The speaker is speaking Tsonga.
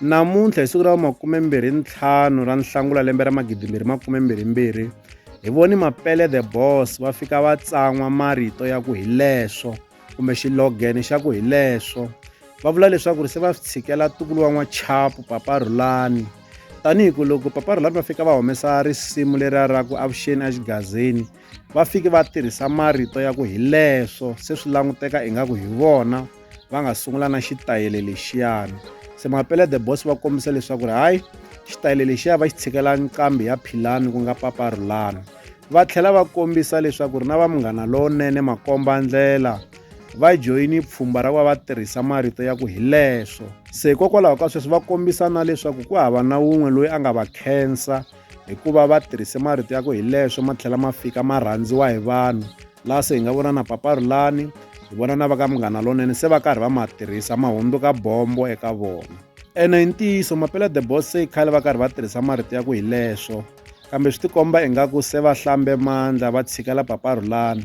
Namuntlha hi siku ra makumembirhi ntlhanu ra Nhlangula lembe ra magidimbirhi makumembirhi mbirhi hi voni Mapele the Boss va fika va tsan'wa marito ya ku hileswo kumbe xilogene xa ku hileswo va vula leswaku ri se va swi tshikela tukulu wa n'wachapu Papa Rhulani tanihi ku loko Papa Rhulani va fika va humesa risimu leriya ra ku avuxeni exigazini va fike va tirhisa marito ya ku hi leswo se swi languteka ingaku hi vona va nga sungula na xitayele lexiyana se mapele the boss va kombisa leswaku ri hayi xitayele lexiya va xi tshikela nqambi ya philani ku nga paparulani va tlhela va kombisa leswaku ri na va munghana lowunene makomba ndlela va joyini pfhumba ra ku va va tirhisa marito ya ku hi leswo se hikokwalaho ka sweswo va kombisa na leswaku ku hava na wun'we loyi a nga va khensa hikuva va tirhise marito ya ku hi leswo ma tlhela ma fika ma rhandziwa hi vanhu laha se hi nga vona na papa rulani hi vona na va ka munghana lonene se va karhi va ma tirhisa ma hundzuka bombo eka vona ene hi ntiyiso mapela the boss se khale va karhi va tirhisa marito ya ku hi leswo kambe swi tikomba ingaku se va hlambe mandla va tshikela papa rulani